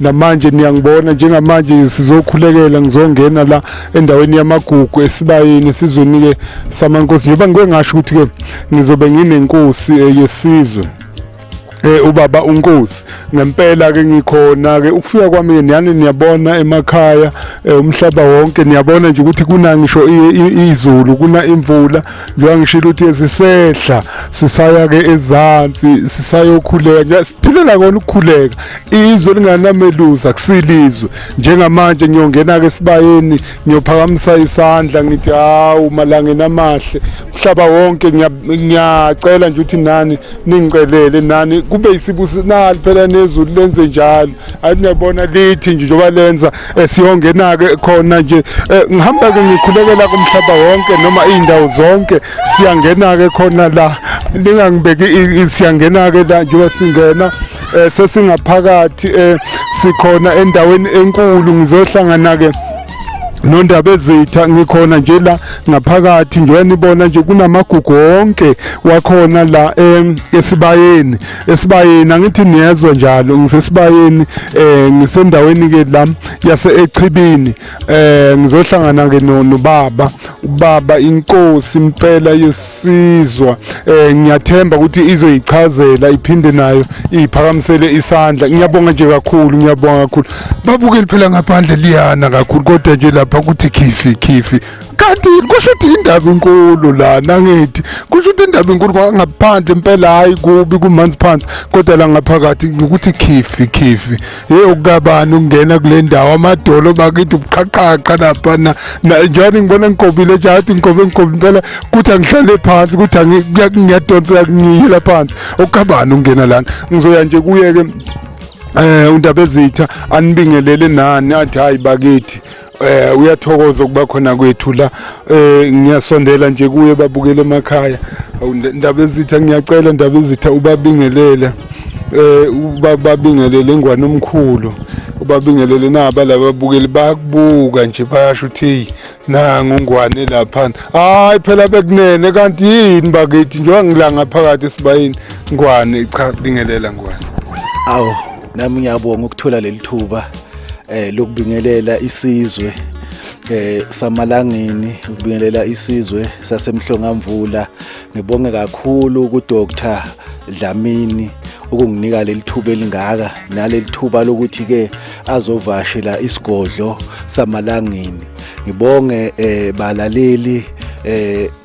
namanje niyangibona njengamanje sizokhulekela ngizongena la endaweni yamagugu esibayeni esizweni-ke samankosi njengoba ngike ngasho ukuthi-ke ngizobe nginenkosi eh, yesizwe eh ubaba unkosi ngempela ke ngikhona ke ukufika kwami niyani niyabona emakhaya eh, umhlaba wonke niyabona nje ukuthi kuna ngisho izulu kuna imvula njengoba ngishilo ukuthi yesisehla sisaya ke ezansi sisayokhuleka nje siphilela kona ukukhuleka izwe linganamelusa kusilizwe njengamanje ngiyongena ke sibayeni ngiyophakamisa isandla ngithi hawu malangeni amahle umhlaba wonke ngiyacela nje ukuthi nani ningicelele nani kube isibusinali phela nezulu lenze njalo ayi niyabona lithi nje njengoba lenza Eh, siyongena-ke khona nje eh, ngihamba-ke ngikhulekela kumhlaba wonke noma iy'ndawo zonke siyangena-ke khona la ningangibeki siyangena-ke la njengoba singena um sesingaphakathi um sikhona endaweni enkulu ngizohlangana-ke nondaba ezitha ngikhona nje la ngaphakathi njengoba nibona nje kunamagugu wonke wakhona la esibayeni esibayeni angithi niyezwa njalo ngisesibayeni eh ngisendaweni ke la yase echibini eh ngizohlangana ke nobaba ubaba inkosi impela yesizwa eh ngiyathemba ukuthi izoyichazela iphinde nayo iphakamisele isandla ngiyabonga nje kakhulu ngiyabonga kakhulu babukeli phela ngaphandle liyana kakhulu kodwa nje lapha kuthi khifi khifi kanti kusho ukuthi indaba inkulu lana ngithi kusho ukuthi indaba inkulu kwangaphandle impela hayi kubi kumanzi phansi kodwa la ngaphakathi ukuthi khifi khifi hey ukukabani ukungena kule ndawo amadolo bakithi ubuqhaqhaqa lapha na njani ngibona ngigobile jathi ngigobe ngigobe impela kuthi angihlale phansi kuthi ngiyadonseka ngiyela phansi ukukabani ukungena lana ngizoya nje kuye-ke um undaba ezitha anibingelele nani athi hhayi bakithi eh uyathokoza ukuba khona kwethu la eh ngiyasondela nje kuye babukele emakhaya ndaba ezitha ngiyacela ndaba ezitha ubabingelele eh ubabingelele ngwane omkhulu ubabingelele naba laba bukeli bayakubuka nje bayasho ukuthi nangu ngwane lapha hayi phela bekunene kanti yini bakithi njengoba ngilanga phakathi esibayini ngwane cha bingelela ngwane awu nami ngiyabonga ukuthola leli thuba eh lokubingelela isizwe eh samalangeni ukubingelela isizwe sasemhlongamvula ngibonge kakhulu ku Dr Dlamini ukunginika leli thuba elingaka naleli thuba lokuthi ke azovashela isigodlo samalangeni ngibonge eh balaleli eh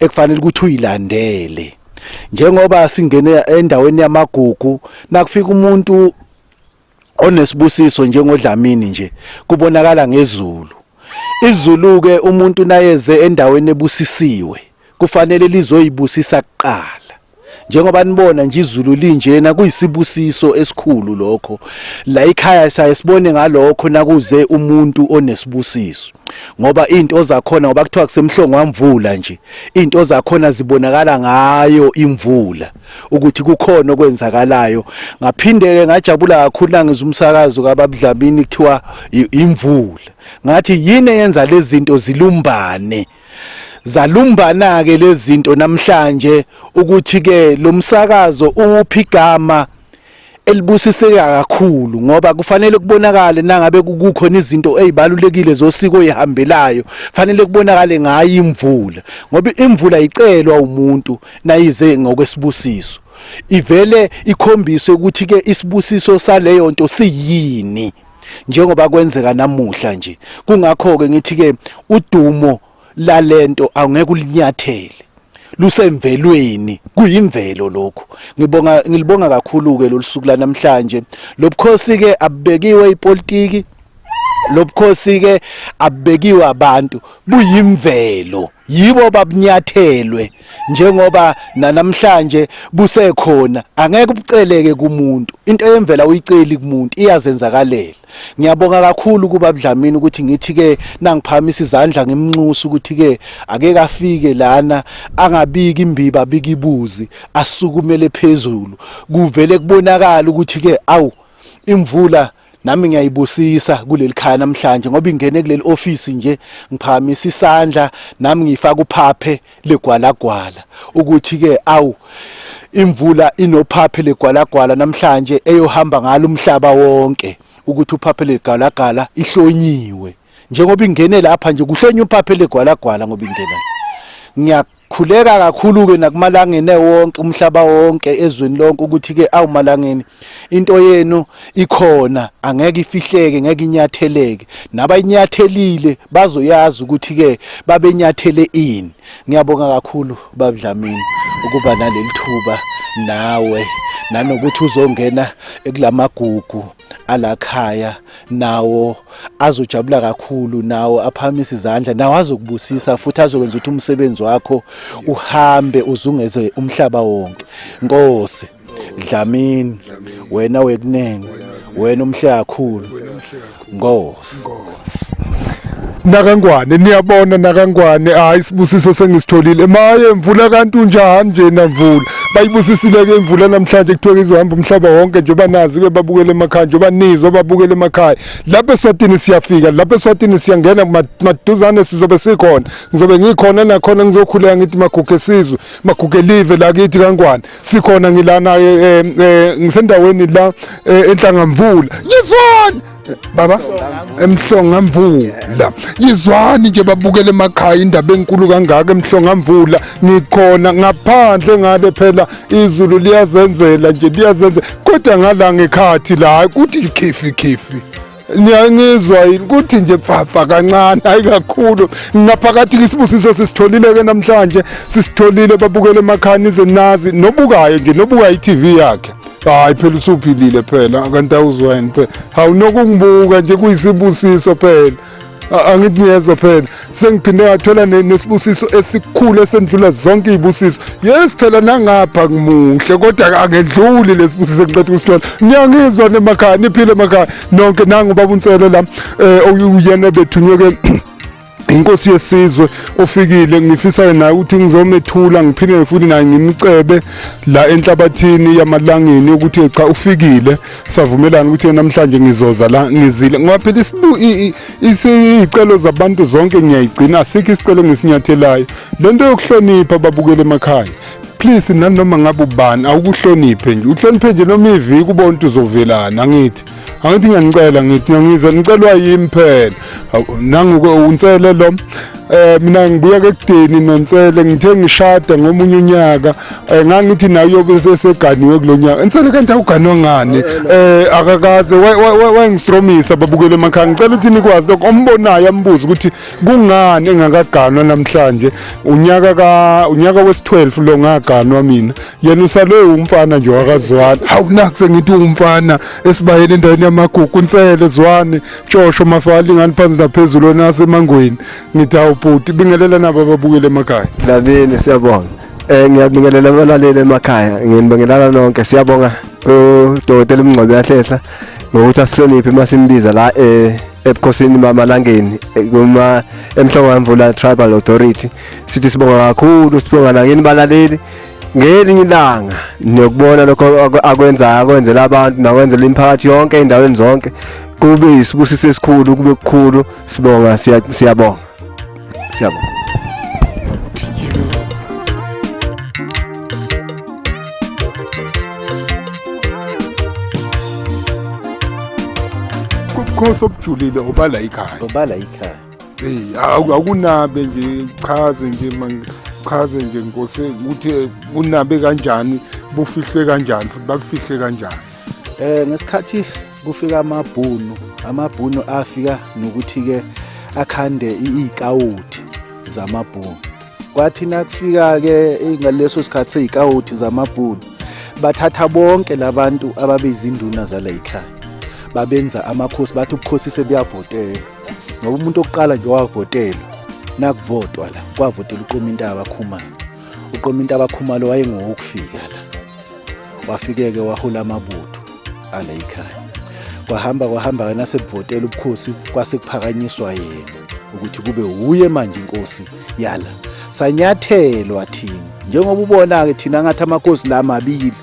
ekufanele ukuthi uyilandele njengoba singene endaweni yamagugu nakufika umuntu onesibusiso njengodlamini nje kubonakala ngezulu izulu ke umuntu nayeze endaweni ebusisiwe kufanele lizoyibusisa kuqala njengoba nibona nje izulu linjena kuyisibusiso esikhulu lokho la ikhaya saye sibone ngalokho nakuze umuntu onesibusiso ngoba into zakhona ngoba kuthiwa kusemhlongo wamvula nje into zakhona zibonakala ngayo imvula ukuthi kukhona okwenzakalayo ngaphindeke ngajabula kakhulu nangiza umsakazo kababudlamini kuthiwa imvula ngathi yini eyenza lezi zinto zilumbane Zalumbana-ke lezi zinto namhlanje ukuthi-ke lo msakazo uwuphi igama elibusiseka kakhulu ngoba kufanele kubonakale nangabe kukhona izinto ezibalulekile zosiko ezihambelayo fanele kubonakale ngayo imvula ngoba imvula icelwa umuntu nayize ngokwesibusiso ivele ikhombise ukuthi ke isibusiso saleyo nto siyini njengoba kwenzeka namuhla nje kungakho ke ngithi ke udumo lalento awungeke ulinyathele lusemvelweni kuyimvelo lokhu ngibonga ngilibonga kakhulu ke lolusuku lanamhlanje lobukhosi ke abubekiwe ipolitiki lobukhosi ke abubekiwe abantu buyimvelo yibo babunyathelwe njengoba nanamhlanje busekhona angeke ubuceleke kumuntu into yemvela uyiceli kumuntu iyazenzakalela ngiyabonga kakhulu kuba Dlamini ukuthi ngithi ke nangiphakamisa izandla ngimnxusa ukuthi ke ake kafike lana angabiki imbiba bikibuzi asukumele phezulu kuvele kubonakala ukuthi ke awu imvula nami ngiyayibusisa kuleli khaya namhlanje ngoba ingene kuleli office nje ngiphakamisa isandla nami ngifaka uphaphe legwalagwala ukuthi ke awu imvula inophaphe legwalagwala namhlanje eyohamba ngalo umhlaba wonke ukuthi uphaphe legalagala ihlonyiwe njengoba ingene lapha nje kuhlonye uphaphe legwalagwala ngoba ingena Khuleka kakhulu-ke nakumalangeni ewonke umhlaba wonke ezweni lonke ukuthi-ke awumalangeni into yenu ikhona angeke ifihleke ngeke inyatheleke nabayinyathelile bazoyazi ukuthi-ke babenyathele ini ngiyabonga kakhulu babudlamini ukuba naleli thuba nawe nanokuthi uzongena ekulamagugu alakhaya nawo azojabula kakhulu nawo aphakamisa izandla nawo azokubusisa futhi azokwenza ukuthi umsebenzi wakho uhambe uzungeze umhlaba wonke nkosi dlamini wena wekunene wena umhle kakhulu nkosi nakangwane niyabona nakangwane hayi isibusiso sengisitholile maye mvula kanti unjani nje namvula bayibusisile ke imvula namhlanje kuthiwa izohamba umhlaba wonke nje banazi ke babukele emakhaya nje banizwa babukele emakhaya lapha eswatini siyafika lapha eswatini siyangena maduzane sizobe sikhona ngizobe ngikhona nakhona ngizokhuleka ngithi magugu esizwe magugu elive la kithi kangwane sikhona ngilana eh, eh, ngisendaweni la eh, enhlangamvula yizwani baba emhlonga mvula yizwani nje babukele emakhaya indaba enkulu kangaka emhlonga mvula ngikhona ngaphandle ngale phela izulu liyazenzela nje liyazenzela kodwa ngala ngekhathi la hayi kuthi ikhifi khifi niyangizwa yini kuthi nje pfafa kancane hayi kakhulu ngaphakathi kisibusiso sisitholile ke namhlanje sisitholile babukele emakhaya nize nazi nobukayo nje nobuka i-tv yakhe hayi phela usuphilile phela kanti awuzwani phela hawu nokungibuka nje kuyisibusiso phela angithi ngiyezwa phela sengiphinde ngathola nesibusiso esikhulu esendlula zonke iy'busiso yes phela nangapha ngimuhle kodwa angedluli lesibusiso engiqeda ukusithola ngiyangizwa nemakhaya niphile emakhaya nonke nangu babunsele la um uyena bethunywe-ke inkosi yesizwe ofikile ngifisa naye ukuthi ngizomethula ngiphinde futhi naye ngimcebe la enhlabathini yamalangeni ukuthi cha ufikile savumelana ukuthi namhlanje ngizoza la ngizile ngoba phela isicelo zabantu zonke ngiyayigcina sikho isicelo ngesinyathelayo lento yokuhlonipha babukele emakhaya please nanoma ngabe ubani awukuhloniphe nje uhloniphe nje noma iviki ubona ukuthi uzovelana angithi angithi ngiyanicela ngithi ngizwe nicelwa yimi phela nangu unsele lo eh mina ngibuya ke kudeni nonsele ngithe ngishada ngomunye unyaka eh, ngangithi nayo yobe seseganiwe kulonyaka insele kanti awuganwa ngani eh akakaze wayengistromisa babukele emakhaya ngicela ukuthi nikwazi lokho ombonayo ambuza ukuthi kungani engakaganwa namhlanje unyaka ka unyaka wes12 lo ngaganwa mina yena usalwe umfana nje wakazwane hawu naku sengithi umfana esibayeni endaweni yamagugu unsele zwane tshosho mafali ngani phansi naphezulu wena asemangweni ngithi hawu bhuti bingelela nabo ababukele emakhaya Dadini siyabonga. Eh ngiyabingelela abalaleli emakhaya. Nginibingelela nonke. Siyabonga uDokotela uMngcwabi yahlehla ngokuthi asihloniphe uma simbiza la eh ebukhosini bamalangeni eh, kuma emhlongo yamvula tribal authority sithi sibonga kakhulu sibonga nakini balaleli ngelinye ilanga niyokubona lokho akwenzayo akwenzela abantu nakwenzela imiphakathi yonke endaweni zonke kube isibusiso esikhulu kube kukhulu sibonga siyabonga siyabonga ubukhosi obujulile obala ikhaya obala ikhaya eyi awu- akunabe nje chaze nje man- chaze nje nkosi ukuthi eh, bunabe kanjani bufihlwe kanjani futhi bakufihle kanjani eh ngesikhathi kufika amabhunu amabhunu afika nokuthi ke akhande i- ikawuthi zamabhunu kwathi nakufika ke eh, ngaleso sikhathi seyikawuthi zamabhunu bathatha bonke labantu ababezinduna zala ekhaya babenza amakhosi bathi ubukhosi sebuyabhotela ngoba umuntu okuqala nje wavotelwa nakuvotwa la kwavotela uqoma intaba akhumalo uqoma intaba akhumalo wayengowokufika la wafike-ke wahola amabutho ala yikhaya kwahamba kwahamba ke nasebuvotela ubukhosi kwase kuphakanyiswa yena ukuthi kube wuye manje inkosi yala sanyathelwa thina njengoba ubona-ke thina ngathi amakhosi la mabili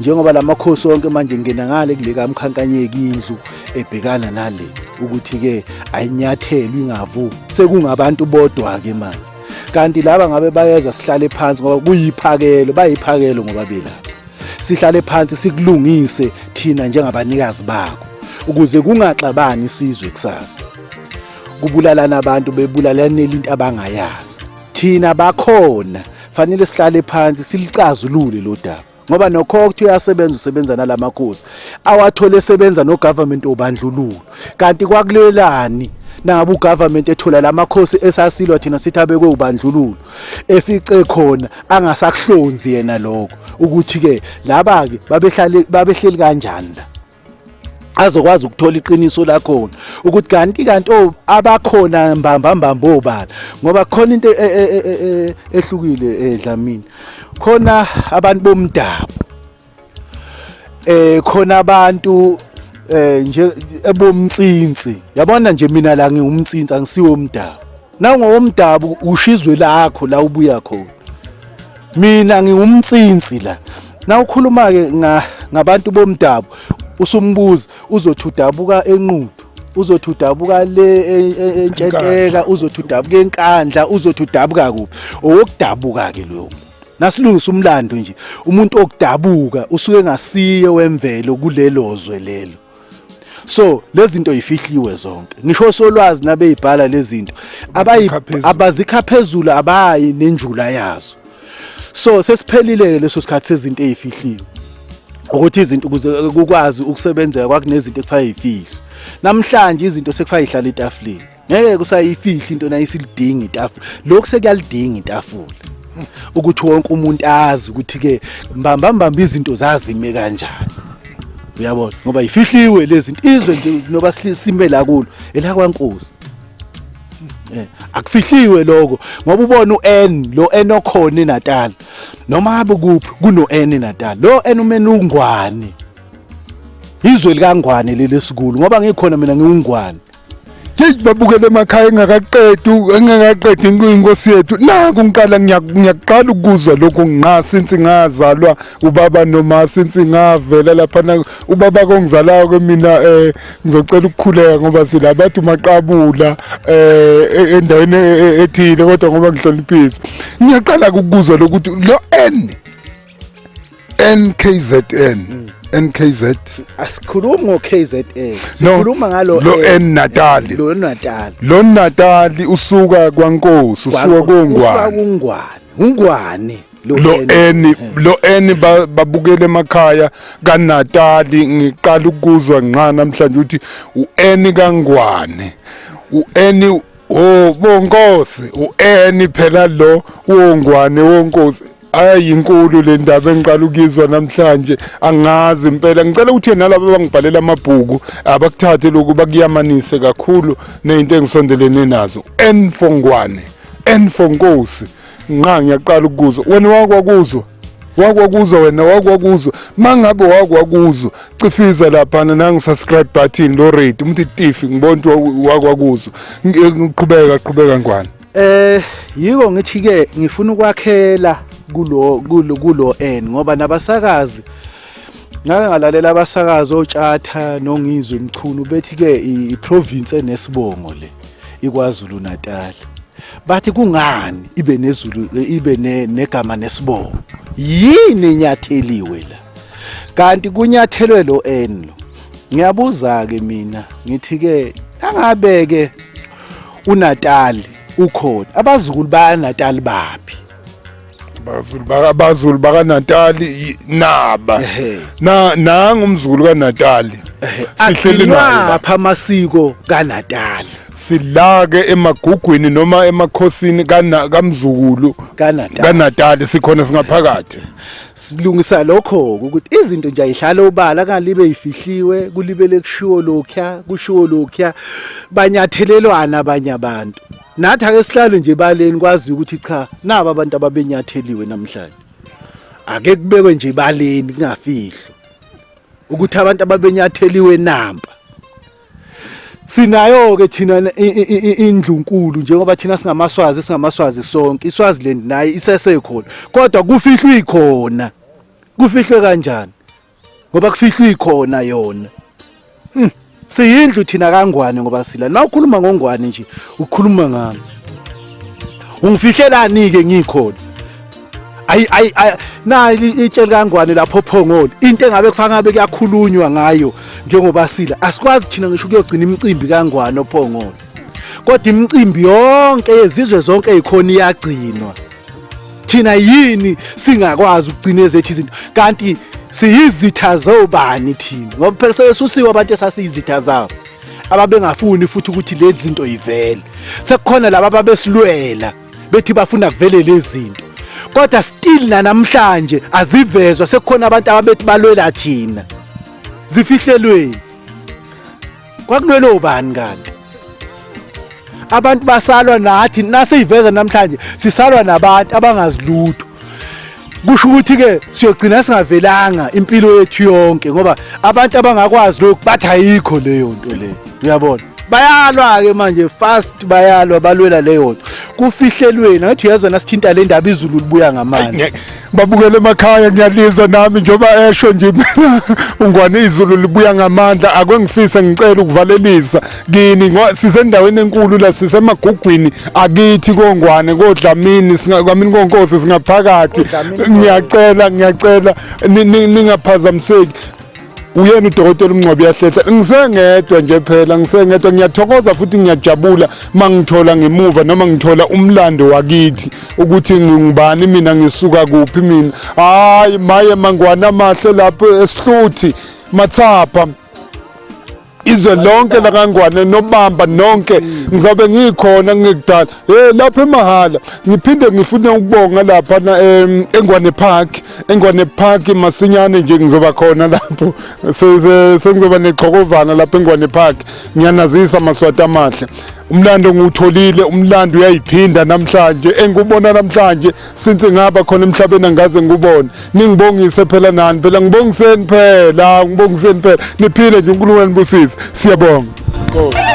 njengoba la makhosi onke manje ngena ngale kuleka mkhankanyeki indlu ebhekana nale ukuthi-ke ayinyathelwe ingavu sekungabantu bodwa-ke manje kanti laba ngabe bayeza sihlale phansi ngoba kuyiphakelo bayiphakelo ngoba belapha sihlale phansi sikulungise thina njengabanikazi bako ukuze kungaxabani isizwe kusasa kubulalana abantu bebulalanela into abangayazi thina bakhona fanele sihlale phansi silicazulule lo daba ngoba nokho ukuthi uyasebenza usebenza nalamakhosi awathole esebenza nogovernment obandlululo kanti kwakulelani nabo ugovernment ethola lamakhosi esasilwa thina sithi abekwe ubandlululo efice khona angasakuhlonzi yena lokho ukuthi ke laba ke babehlale babehleli kanjani la azokwazi ukuthola iqiniso lakhona ukuthi kanti kanti oh abakhona mbamba mbamba obala ngoba khona into e, e, e, ehlukile edlamini khona abantu bomdabu eh khona abantu eh nje ebomtsinsi yabona nje mina la ngiwumtsinsi angisiwo umdabu nangowomdabu usho izwe lakho la ubuya khona mina ngiwumtsinsi la nawukhuluma-ke ngabantu bomdabu usumbuza uzothi udabuka enqudu uzothi udabuka le e, e, entshenteka uzothi udabuka enkandla uzothi udabuka kuphi owokudabuka-ke loyo muntu nasilungisa umlando nje umuntu okudabuka usuke ngasiye wemvelo kulelo zwe lelo so lezi zinto yifihliwe zonke ngisho osolwazi nabeyibhala lezi zinto abazikha phezulu abayi nenjula yazo so sesiphelile leso sikhathi sezinto ezifihliwe ukuthi izinto ukuze kukwazi ukusebenzeka kwakunezinto ekufaya ifihle namhlanje izinto sekufaya ihlala etafuleni ngeke kusayifihla into nayisilidinga itafula lokhu sekuyalidinga itafula ukuthi wonke umuntu azi ukuthi ke mbamba mbamba izinto zazime kanjani uyabona ngoba yifihliwe lezi zinto izwe nje noba sime la kulo elakwankosi eh, akufihliwe lokho ngoba ubona uN lo N okhona eNatal noma habe kuphi kuno N eNatal lo N umene ungwane izwe likangwane leli sikulu ngoba ngikhona mina ngiwungwane yeyi babukele emakhaya engakaqedi engakaqedi inkosi yethu naku ngiqala ngiyaqala ukuzwa lokhu nqa since ngazalwa ubaba noma since ngavela laphana ubaba kongizalayo ke mina um ngizocela ukukhuleka ngoba sila bathi umaqabula um endaweni e, e, ethile kodwa ngoba ngihloniphisa ngiyaqala-ke ukuzwa lokuthi lo n NKZN mm. NKZ asikhulumi ngo KZN sikhuluma ngalo lo eh, N Natal lo Natal lo Natal usuka kwaNkosi usuka kongwane usuka kungwane ungwane lo eni lo eni babukele emakhaya kaNatali ngiqala ukuzwa ngqa namhlanje ukuthi ueni kangwane ueni Oh bonkosi ueni phela lo wongwane wonkosi ayi inkulu le ndaba engiqala ukuyizwa namhlanje angazi impela ngicela ukuthi nalabo abangibhalela amabhuku abakuthathe lokhu bakuyamanise kakhulu nezinto engisondelene nazo enfongwane enfonkosi nqa ngiyaqala ukuzwa wena wakwakuzwa wakwakuzwa wena wakwakuzwa mangabe wakwakuzwa cifiza laphana nangu subscribe button lo rate umthi tifi ngibona ukuthi wakwakuzwa ngiqhubeka qhubeka ngwane eh yiko ngithi ke ngifuna ukwakhela kulo kulo kulo n ngoba nabasakazi ngake ngalalela abasakazi otshatha nongizwe mchunu bethi-ke iprovince enesibongo le ikwazulu natal bathi kungani ibe nezulu ibe negama nesibongo yini enyatheliwe la kanti kunyathelwe lo n lo ngiyabuza-ke mina ngithi-ke angabe-ke unatali ukhona abazukulu bayanatali baphi abazulu baka abazulu baka Natali naba Ehhe. na nanga umzukulu ka Natali sihleli Agcinwa naye apha amasiko kaNatal silake emagugwini noma emakhosini kana kamzukulu kaNatal ka Natali sikhona singaphakathi silungisa lokho ukuthi izinto nje ayidlala obala kalibe ifihliwe kulibele kushiwo lokya kushiwo lokya banyathelelwana abanye abantu nathi ake sihlale nje baleni kwaziyo ukuthi cha naba abantu ababenyatheliwe namhlanje ake kubekwe nje baleni kungafihlo ukuthi abantu ababenyatheliwe namba sinayo ke thina indlunkulu njengoba thina singamaswazi singamaswazi sonke iswazi lendi naye isesekhona kodwa kufihlwe ikhona kufihlwe kanjani ngoba kufihlwa ikhona yona hmm. siyindlu thina kangwane ngoba sila na ukhuluma ngongwane nje ukhuluma ngami ungifihlelani ke ngikhona ayi ayi na itshela kangwane lapho phongolo into engabe kufanele ngabe kuyakhulunywa ngayo njengoba sila asikwazi thina ngisho kuyogcina imicimbi kangwane ophongolo kodwa imicimbi yonke yezizwe zonke eyikhona iyagcinwa thina yini singakwazi ukugcina ezethu izinto kanti siyizitha zobani thina ngoba phela sebesusiwe abantu esasiyizitha zabo ababengafuni futhi ukuthi lezi zinto yivele sekukhona laba ababesilwela bethi bafuna kuvele lezi zinto kodwa still nanamhlanje azivezwa sekukhona abantu ababethi balwela thina zifihlelweni kwakulwela ubani kanti abantu basalwa nathi nasiyiveza namhlanje sisalwa nabantu abangazilutho kusho ukuthi ke siyogcina singavelanga impilo yethu yonke ngoba abantu abangakwazi lokhu bathi ayikho leyo nto leyo uyabona bayalwa ke manje fast bayalwa balwela leyo nto kufihlelweni ngathi uyezwa nasithinta le ndaba izulu libuya ngamandla babukele emakhaya ngiyalizwa nami njengoba esho nje ungwane izulu libuya ngamandla akwengifise ngicela ukuvalelisa kini sisendaweni enkulu la sisemagugwini akithi kongwane kodlamini singakwamini konkosi singaphakathi ngiyacela ngiyacela ningaphazamiseki uyena udokotela umncwabi yahlehla ngisengedwa nje phela ngisengedwa ngiyathokoza futhi ngiyajabula mangithola ngemuva noma ngithola umlando wakithi ukuthi ngingubani mina ngisuka kuphi mina hayi maye mangwana amahle lapho esihluthi mathapha izwe lonke lakangwane nobamba nonke ngizabe ngikhona ngekudala hey lapha emahala ngiphinde ngifune ukubonga lapha na engwane park engwane park masinyane nje ngizoba khona lapho sengizoba nexhokovana lapha engwane park ngiyanazisa maswati amahle umlando ngiwutholile umlando uyayiphinda namhlanje engikubona namhlanje since ngaba khona emhlabeni angaze ngikubone ningibongise phela nani phela ngibongiseni phela ngibongiseni phela niphile nje unkulunkulu anibusise siyabonga oh.